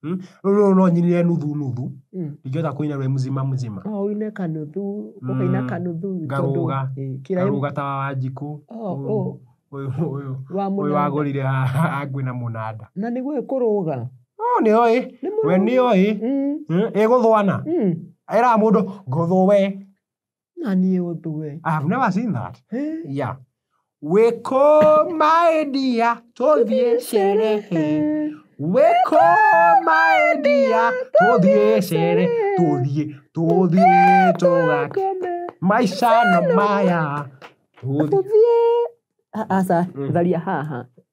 Hmm? Rĩu rũrũ no nyinire nuthu nuthu Mm. ndingĩhota kũina rwĩ mzima mzima Oh, uine kanuthu ukaina Mm. kanuthu tondũ- Ngarũga. Eh, kĩraĩ- karũga ta wa wanjikũ Oh, Ũyũ- oh. ũyũ ũyũ Wa ũyũ mũnanda. wagũrire angwĩna mũnanda na nĩguo ĩkũrũga Oh, nĩ oĩ Nĩ mũrũga. we nĩ oĩ Mm, ĩgũthwana mm. era mũndũ ngũthũ we na niä å ndå we I have never seen that. Yeah. Wĩkũ maendia tũthiĩ sherehe. Wĩkũ maendia tũthiĩ sherehe. Tũthiĩ, tũthiĩ tũgake. Maica no maya. Tũthiĩ. aca tharia haha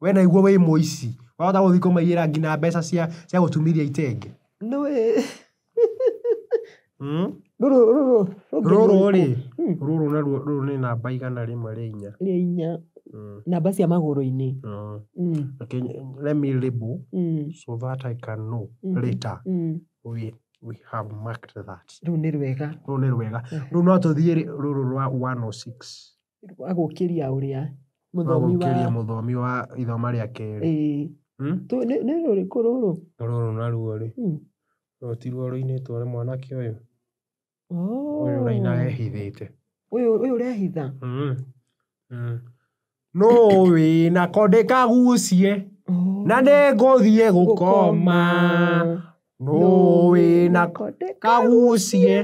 We naigua wĩ mũici. Wahota gũthiĩ kũmaiyĩra nginya mbeca cia cia gũtumithia itenge. No wĩ. Mm? Rũrũ, rũrũ. Rũrũ rĩ, Mm. rũrũ naruo rũrũ nĩ namba igana rĩmwe rĩa inya. Rĩa inya. Mm. Namba cia magũrũ-inĩ. Mm. Mm. Okay, let me label Mm. so that I can know Mhm. later Mm. we, we have marked that. Rũu nĩ rwega. Rũrũ nĩ rwega. Rũu no tũthiĩ rĩ, rũrũ rwa 106. wa gũkĩria ũrĩa wa mũthomi wa gũkĩria mũthomi wa ithoma rĩa kerĩ. ĩĩ Hmm? tũ- nĩ nĩ rũrĩkũ rũrũ Rũrũ naruo rĩ, Hmm. rũrũ ti ruo rũinĩtwo nĩ mwanake ũyũ, Oh. ũyũ ũraina ehithĩte. ũyũ ũyũ ũrehitha Mm. Mm. No wĩna ko ndĩkagucie Oh. na nĩngũthiĩ gũkoma. No wĩna ko ndĩkagucie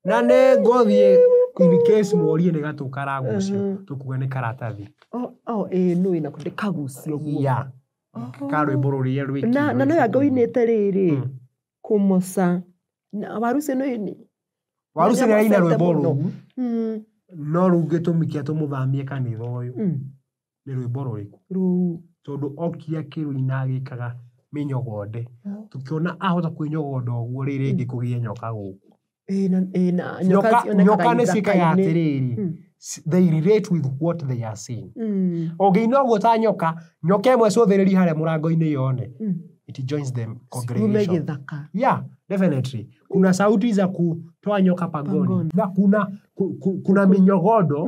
Na nĩ ngũthiĩ in case morie nĩ gatũ karagucio Mhm. tũkuge nĩ karatathi. Oh, oh, ĩĩ nũ ĩna kũndĩ kagucio guo. Ya. Ka rwĩmbo rũrĩa rwĩ. na na no yanga uinite riri Mm. kumosa na waru icio nĩ nĩ- Waru cina ina rwĩmbo Mũno. rũu Mm, no rugĩtũmi kĩa tũmũthamie kanitha ũyũ. mm. nĩ rwĩmbo rũrĩkũ? Rũu. Tondũ okire akĩrũina agĩkaga mĩnyogonde. Tũkĩona ahota kwĩnyogonda ũguo rĩ rĩngĩ kũgĩe nyoka gũkũ. Nyoka nĩ ciĩkaga atĩrĩrĩ, hmm. they relate with what they are seeing. Hmm. Ũngĩina ũguo ta nyoka, nyoka ĩmwe cũthĩrĩri harĩa mũrango-inĩ yone. Hmm. It joins them congregation. Yeah, definitely. Kuna sauti za kutoa nyoka pangoni. Na kuna, kuna minyogodo.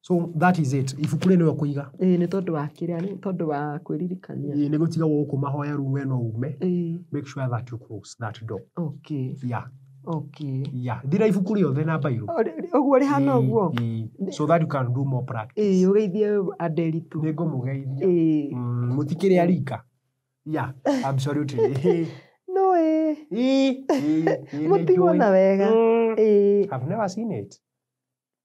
So that is it. Ibuku rĩrĩ nĩwe ũkũiga. Ĩĩ nĩ tondũ wa kĩrĩa nĩ tondũ wa kwĩririkania. Ĩĩ nĩ gũtiga gũkũ mahoya rĩu we no ume. Ĩĩ. Make sure that you close that door. Okay. Yeah. Okay. Yeah. Thira ibuku rĩothe na mbairũ. Ũguo rĩhana ũguo? Ĩĩ. So that you can do more practice. Ĩĩ ũgeithie andũ eritũ. Nĩ ngũmũgeithia. Ĩĩ. Mm, mũtikĩrĩ arika. Yeah, absolutely. No ĩĩ. Ĩĩ. Ĩĩ. Mũtigwo na wega. Mm. Ĩĩ. I've never seen it.